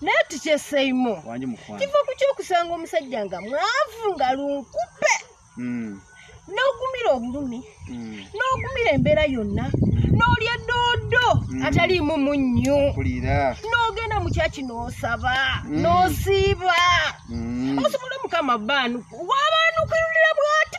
naye tukyeseimo kiva ku kyokusanga omusajja nga mwavu nga lunkupe hmm. n'ogumira obulumi hmm. n'ogumira embeera yonna hmm. n'olya doodo ataliimu munnyo n'ogenda mu kyaki n'osaba n'osiiba osobola omukama baanuku wabaanukirulira bwati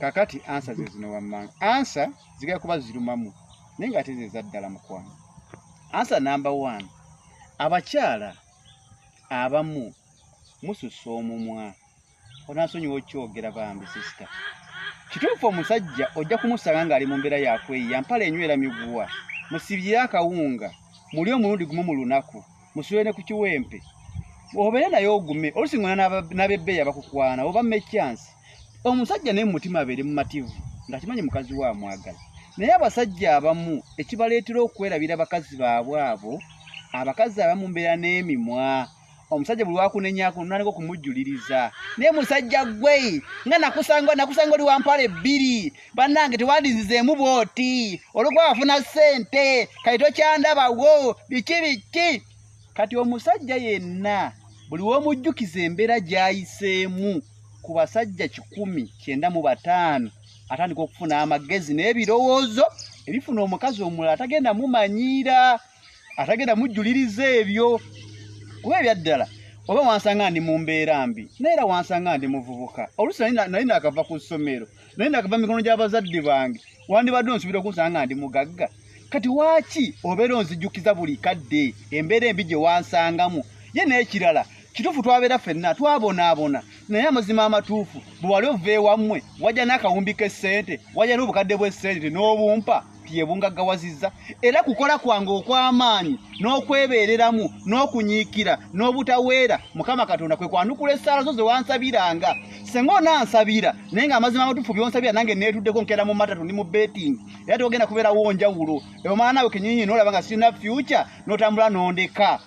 kakati ansa zezino wammanga ansa zigala kuba zirumamu naye nga ate zezaddala mukwano ansa namba one abakyala abamu mususa omumwa onasonyiwa okyogera bambi sisita kituufu omusajja ojja kumusanga ngaali mu mbeera yakweyiya mpala enywera miguwa musibyire akawunga muli omulundi gumu mu lunaku musule ne ku kiwempe obeere naye ogume olusi ngona nabebbeeyi abakukwana oba mekyansi omusajja naye mumutima abeere mumativu nga kimanyi mukazi we amwagala naye abasajja abamu ekibaleetera okwerabira abakazi baabwe abo abakazi abamu mbeera n'emimwa omusajja buli wakunenyako nonaneka okumujjuliriza naye musajja gwe nga nakusanga nakusanga oli wampala ebbiri bannange tewandizizeemu bwoti olwokuba wafuna ssente kati tokyandabawo biki biki kati omusajja yenna buli w'omujjukiza embeera gy'ayiseemu ku basajja kikumi kyenda mu bataano atandika okufuna amagezi n'ebirowoozo ebifuna omukazi omulala atagenda mumanyiira atagenda mujjuliriza ebyo kuba ebyaddala oba wansanga ndi mu mbeera mbi naye era wansanga ndi muvubuka oluusi nali naakava ku ssomero naye nakava mikono gy'abazadde bange wandibadde onsubira okunsanga nga ndi mugagga kati waaki obeera onzijukiza buli kadde embeera embi gye wansangamu ye n'ekirala kituufu twabeera fenna twabonaabona naye amazima amatuufu bwe wali ova ewammwe wajja n'akawumbi k'essente wajja n'obukadde bw'essente n'obumpa byebungaggawazizza era kukola kwange okw'amaanyi n'okwebeereramu n'okunyiikira n'obutaweera mukama katonda kwe kwanukula essaala zo zewansabiranga senga onansabira naye nga amazima amatuufu byonsabira nange neetuddeko nkeera mu matatu ndi mu betting era togenda kubeerawo njawulo omwana naawe kenyinyi noolaba nga sirina fyuca n'otambula n'ondeka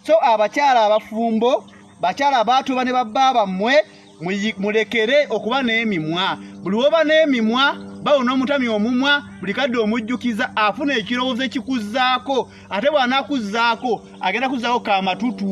so abakyala abafumbo bakyala abaatuba ne babba bammwe mulekere okuba n'emimwa buli woba n'emimwa bawo n'omutami omumwa buli kadde omujjukiza afuna ekirowoozo ekikuzzaako ate bw'anaakuzzaako agenda kuzzaako kamatutu